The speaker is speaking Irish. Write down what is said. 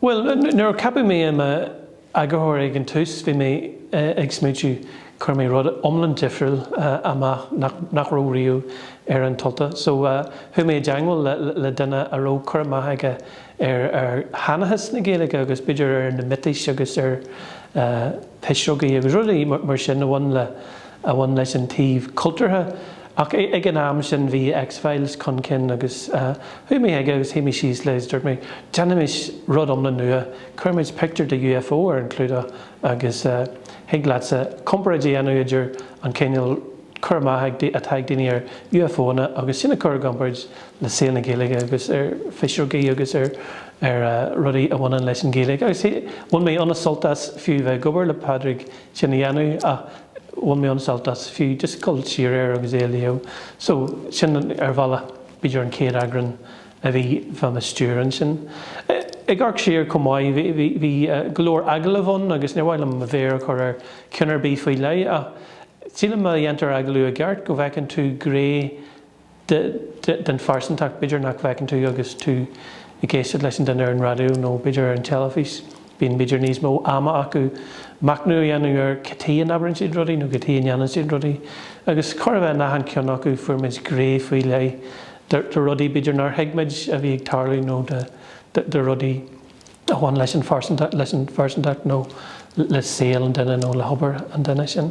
Bhuel, nuair a ceapadh mé i m'eagarthóir ag an tús, bhí mé ag smaointiú, chuir mé rud iomlán difriúil amach nach raibh riamh ar An tUltach. So, chuaigh mé i dteagmháil le duine a raibh cur amach aige ar sheanchas na Gaeilge agus b'fhéidir ar na miotais agus ar phisreogaí agus rudaí mar sin a bhain leis an taobh cultúrtha. Ach ag an am sin bhí X-Files chun cinn agus chuaigh mé chuige agus shuigh mé síos leis agus dúirt mé, déanfaimid rud iomlán nua, cuirfimid pictiúr de UFO ar an gclúdach agus thig leatsa comparáid a dhéanamh idir an cineál cur amach atá ag daoine ar UFO-anna agus sin a chur i gcomparáid le saol na Gaeilge agus ar phisreogaí agus ar rudaí a bhaineann leis an Ghaeilge agus bhain mé an-sult as fiú bheith ag obair le Pádraig sin a dhéanamh ach bhain mé an-sult as fiú just dul siar air agus é a léamh. So, sin ar bhealach b'fhéidir an chéad eagrán a bhí faoi mo stiúir ansin. Ag amharc siar chomh maith, bhí, bhí, bhí go leor agallamh ann agus níor mhaith liom mo mhéar a chur ar cheann ar bith faoi leith ach sílim má dhéantar agallamh i gceart go bhfeiceann tú gné den phearsantacht, b'fhéidir nach bhfeiceann tú agus tú ag éisteacht leis an duine ar an raidió nó b'fhéidir ar an teilifís, bíonn b'fhéidir níos mó ama acu machnamh a dhéanamh ar cad chuige a n-abrann siad rudaí nó cad chuige a ndéanann siad rudaí agus chóir a bheith in achan ceann acu fuair muid gné faoi leith de rudaí b'fhéidir nár thuig muid a bhí ag tarlú nó de rudaí a bhain leis an phearsantacht nó le saol an duine nó le hobair an duine sin.